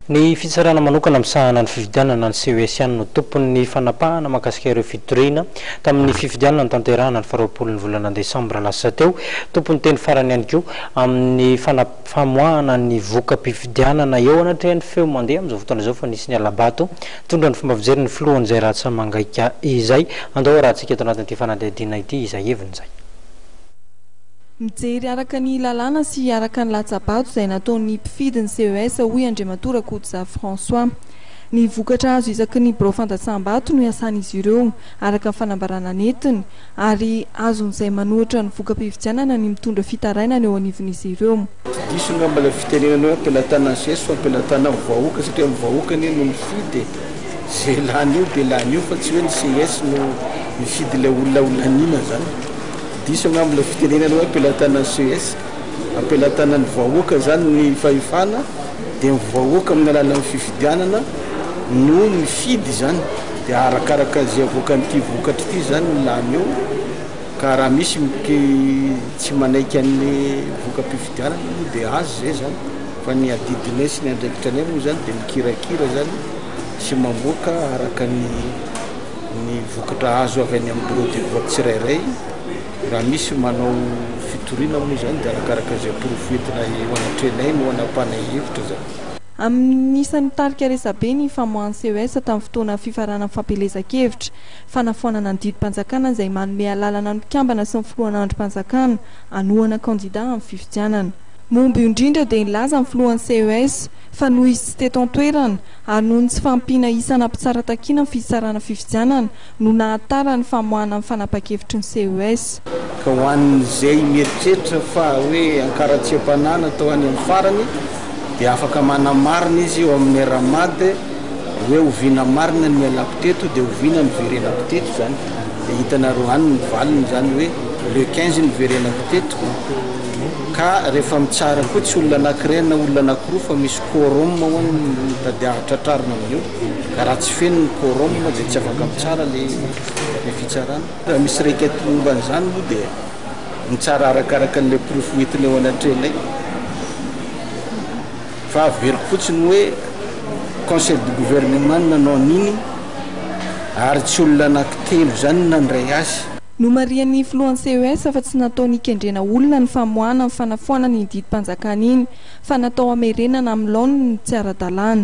Ny fitsarana manokana misahana ny fifidianana ny CES ihany no tompon'ny fanapahana mahakasika ireo fitoriana tamin'ny fifidianana notanterahana ny faharoapolon'ny volana desambra lasa teo. Tompon'ny teny farany ihany koa amin'ny famoahana ny voka-pifidianana eo anatrehan'ny feo mandeha amin'izao fotoana izao fa nisy ny hala-bato nitondra ny fomba fijery ny filohan'izay ratsa-mangaika izay. Andao harahantsika eto anatin'ity fanadihadiana ity izay heviny izay. Mijery araka ny lalàna sy araka ny latsa-bato izay nataon'ny mpifidy ny CES, hoy Andriamatoa Rakotoza François. Ny vokatra azo isaky ny birao fandatsaham-bato no iasan'izy ireo, araka ny fanambarana nentiny, ary azon'izay manohitra ny voka-pifidianana ny mitondra fitarainana eo anivon'izy ireo. Diso angamba ilay fitenenana hoe am-pelatanan'i Zeso fa am-pelatanan'ny vahoaka satria ny vahoaka anie no mifidy e! Izay lany eo dia lany eo fa tsy hoe ny ces no mifidy ilay olona ho laniana izany. Diso angamba ilay fitenenana hoe am-pelatanan'ny ces, am-pelatanan'ny vahoaka izany ny fahefana dia ny vahoaka amin'ny alalan'ny fifidianana no mifidy izany dia arakaraka izay avoakan'ity vokatra ity izany ny lany eo ka raha misy miki tsy manaiky an'ny voka-pifidianana moa dia azy izay izany fa ny adidinay sy ny andraikitranay moa izany dia mikirakira izany sy mamoaka araka ny ny vokatra azo avy any amin'ny bureau de vote tsirairay, raha misy manao fitoriana moa izany dia arakaraka izay porofo entina eo anatrehanay no anapahanay hevitra izany. Amin'ny isan'ny nitarika resabe ny famoahan'ny ces tamin'ny fotoana fifaranan'ny fampielezan-kevitra, fanafoanana ny didim-panjakana izay manome alalana ny mpikambana sy ny filohan'ny andrim-panjakana hanohana kandida amin'ny fifidianana. Momba io indrindra dia nilaza ny filohan'ny ces fa noho izy tsy teto an-toerana, ary noho ny tsy fahampiana isana mpitsara takiana ny fitsarana fifidianana no nahatara ny famoahana ny fanapahan-kevitry ny CES. Ka ho an'izay mieritreritra fa hoe ankaratsiam-panahy natao any amin'ny farany dia afaka manamarina izy eo amin'ny RAMAD hoe oviana marina ny nialako teto dia oviana niverenako teto izany dia hitanareo any ny valiny izany hoe le quinze niverenako teto ka rehefa mitsara koa tsy olona anankiray na olona anankiroa fa misy Quorum ho an ny tadiavy tratrarina amin'io ka raha tsy feno ny quorum dia tsy afaka mitsara le le fitsarana. Raha misy requête momba an'izany moa dia mitsara arakaraka an'ilay porofo hoentina eo anatrehanay fa averiko fotsiny hoe conseil de gouvernement no nanao an'iny ary tsy olona anaky telo izany no nandray azy. Nomarihan'ny filohan'ny CES fa tsy natao nikendrena olona ny famoahana ny fanafoanana iny didim-panjakana iny fa natao hamerenana amin'ny laoniny ny tsy ara-dalàna.